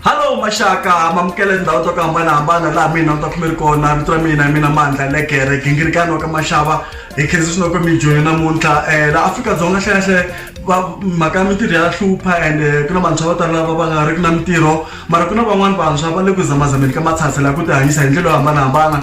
Hello maxaka mamukele ndhawu to ku hambanahambana laha mina ta khumeri kona vito ra mina hi mina mandla legere gingirikani wa ka maxava hi khensa swinoko mijoni namuntlha um laha afrika-dzonga hlehenhle mhaka ya mintirho ya hlupha and eh, ku na vantshwa vo tala lava va nga ri ki na mintirho mara ku na van'wani vantshwa va le ku zamazameni ka matshatshela ku tihanyisa hi ndlela yo hambanahambana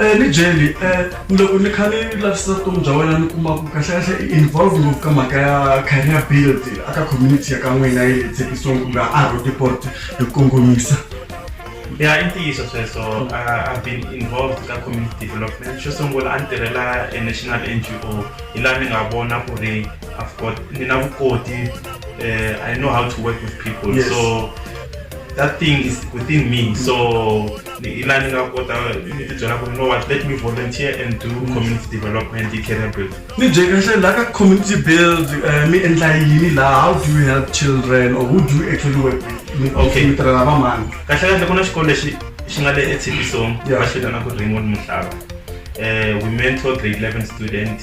Eh, ni jeli eh, loko ni kha ni lavisisa vutomi bya wena ni kuma ku kahlekahle i involve ngopfu ka mhaka ya career build aka community ya ka n'wina yi le tshekisong kumbe a rodeport hi ku kongomisa ya i ntiyiso sweswo i've been involved ka community development xo sungula a ni tirhela e national n g o hi laha ni nga vona ku ri i've got ni na vukoti eh, i know how to work with people yes. so that thing is within me so ila ni nga kota ni ti byela ku no what let me volunteer and do community development hi career build ni bye kahle la ka community build eh, mi endla yini la how do you help children or who do you actually work with okay mi tirhela va mani kahle kahle ku na xikolo lexi xi nga le etshipisong va xi vitana ku raymond muhlava um we mentor grade 11 student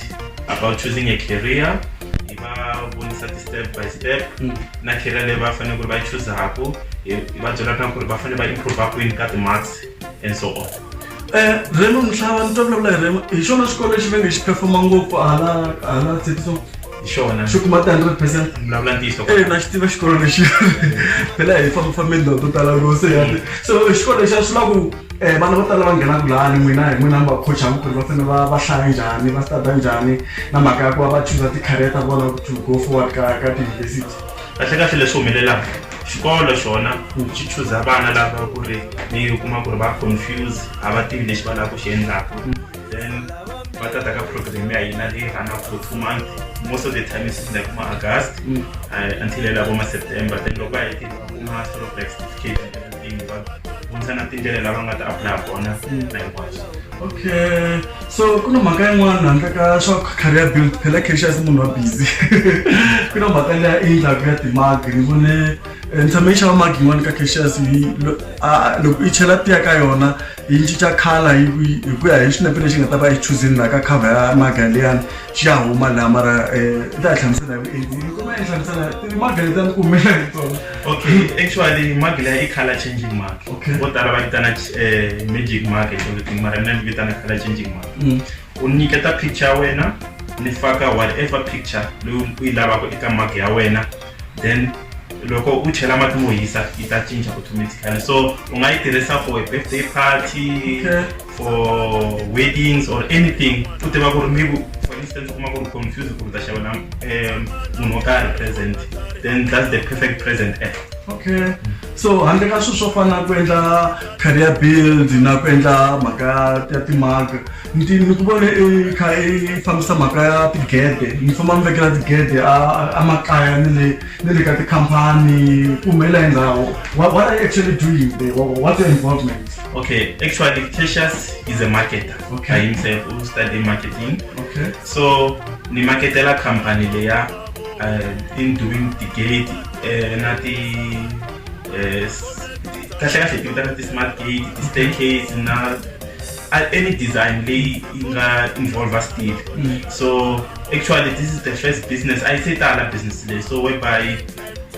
about choosing a career hi va vonisa ti-step by step mm. na career leyi va fanele ku ri va yi chuzaku hi va byela na ku ri va fanele va improve kwini ka ti-marks and so on um remo mhlava ni twa vulavula hi remo hi xona xikolo lexi ve nge xi performa ngopfu hala hala tsetiso hi xona xi kuma ti-hundred percent vulavula ntiyiso e na xi tiva xikolo lexi phela hi fambifambeni laha to tala loko se yati so xikolo lexi a swi lava ku um vana vo tala va nghenaka lani n'wina hi n'wina mi va coachaka ku ri va fanele va va hlaya njhani va studa njhani na mhaka ya ku va va chuza ti-career ta vona to go forward ka ka tiyunivhesiti kahlekahle leswi humelelaka xikolo xona ku xi chuza vana lava ku ri ni u kuma ku ri va confuse a va tivi lexi va lava ku xi endlaka then va tata ka program ya hina leyi rhanaka for two months most of the time is like ma-august uh, until elavo ma-september then loko va hetile va kuma sort of like certificate vutisa na tindlela lava nga ta apply kona mm. na hinkwaswo okay so ku na mhaka yin'wana handle ka swa career build phela caxias munhu wa busy ku na mhaka leya i ndlaku ya timagi ni vone eh, ni tshame yi xava magi yin'wana ka caxias loko i chela tiya ka yona yi cinca khala hi ku hi ku ya hi xinepe lexi nga ta va yi chuzini laha ka cover ya magaliyani xi ya huma laha mara um i ta yi hlamusela hi vuenti yi kuma yi hlamusela magali ta ni kumela hi tona okay actually magila i color changing mark Okay. vo tala va vitana eh, magic mark or something mara mina ni vitana color changing mark Mm. u nyiketa picture ya wena ni faka whatever picture leyi u yi lavaka eka mark ya wena then loko u chela mati mo hisa yi ta cinca automatically so u nga yi tirhisa for a birthday party okay. for weddings or anything u tiva ku ri maybe for instance u kuma ku ri confuse ku ri ta xavela um, munhu wo karhi present then that's the perfect present app okay so handle ka swilo swo fana na ku endla career build na ku endla mhaka ya timhaka ni ni ku vone i kha i fambisa mhaka ya tigede mi famba mi vekela tigede emakaya ni le ni le ka tikhampani ku humelela hi ndhawu what are you actually doing there what's your involvement okay actually cassius is a marketer okay. by himself who study marketing okay. so ni marketela khampani leya uh, in doing tigede uh, na ti uh, kahle kahle ti vitana ti-smart gate ti-staircase na any design leyi yi nga involve steel mm. so actually this is the first business a yi se tala business leyi so whereby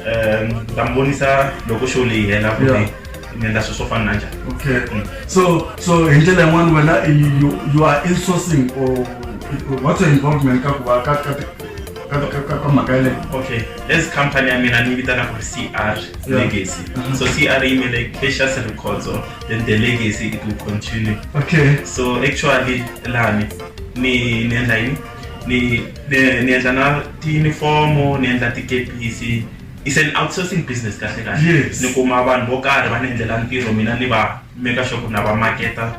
um ta mi vonisa loko show leyi hela ku ri ni endla swilo swo fana na njhani okay mm. so so hi ndlela yin'wana wena you are insourcing or what's your involvement ka ku va ka ka ka mhaka yeleyo okay as company ya mina ni vitana ku ri cr legacy uh-huh. so cr yi mele cacious records then the legacy it will continue okay so actually lani ni niendla yini ni ni- niendla na tiyunifomo niendla tikepisi it's an outsourcing business kahle kahle Yes. ni kuma vanhu vo karhi va ni endlela ntirho mina ni va make sure ku na va marketa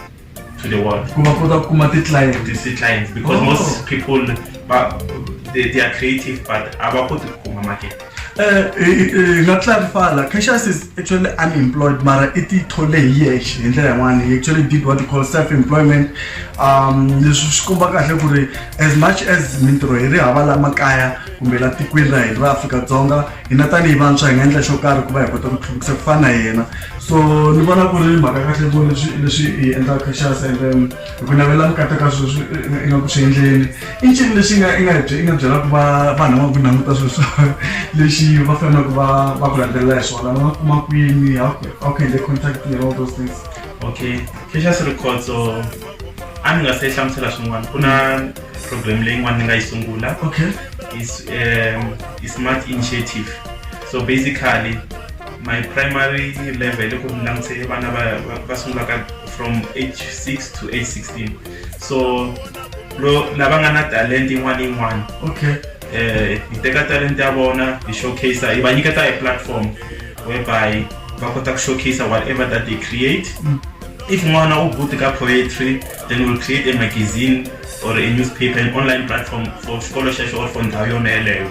to the world ku va kota ku kuma ti-client these three clients because Oh. most people but they, they are creative but abakoti kukhuma market Eh, eh, eh, nga clarify la Cassius is actually unemployed mara i tithole hi yexe hi ndlela yin'wana he actually did what you call self employment um leswi swi komba kahle ku ri as much as mintirho hi ri hava la makaya kumbe la tikweni ra hina ra afrika-dzonga hina tanihi vantshwa hi nga endla xo karhi ku va hi kota ku tlhuvukisa ku fana na yena so ni vona ku ri mhaka kahle ku leswi leswi hi endlaka Cassius and then hi ku navela vukati ka sweswi nga ku swi endleni i ncini lexi nga i nga i nga byelaka va vanhu va ku languta sweswo lexi va faneleke va va ku landzelela hi swona va nga kuma kwini how how can they contact you all those things okay precious rikhotso a ni nga se hlamusela swin'wana ku na program leyin'wana ni nga yi sungula okay is um i smart initiative so basically my primary level loko ni langutse vana va sungulaka from age 6 to age 16 so lava nga na talent yin'wana yin'wana okay eh hi teka talent ya vona hi showcase hi va nyiketa hi platform whereby va kota ku showcase whatever that they create mm. if n'wana u good ka poetry then we'll create a magazine or a newspaper an online platform for xikolo xexo or for ndhawu yona yeleyo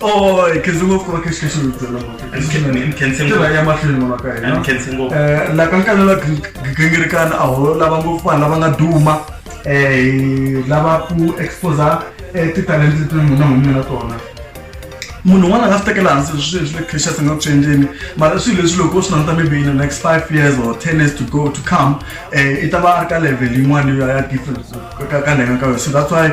Oh, e khense ngopfu ku va khe xi kha xi mi byela ngopfutiva ya mahlweni n'wana ka hina um la kankana la gingirikana a ho lava ngopfu vanhu lava nga duma um lava ku exposa um titalente leti munhu humi na tona munhu un'wana a nga swi tekela hansi swi leswi le crashas nga ku swi endleni mara swilo leswi loko u swi languta maybe in the next five years or ten years to go to come um i ta va a ri ka level yin'wana yo ya different ka ka ka ka yo so that's why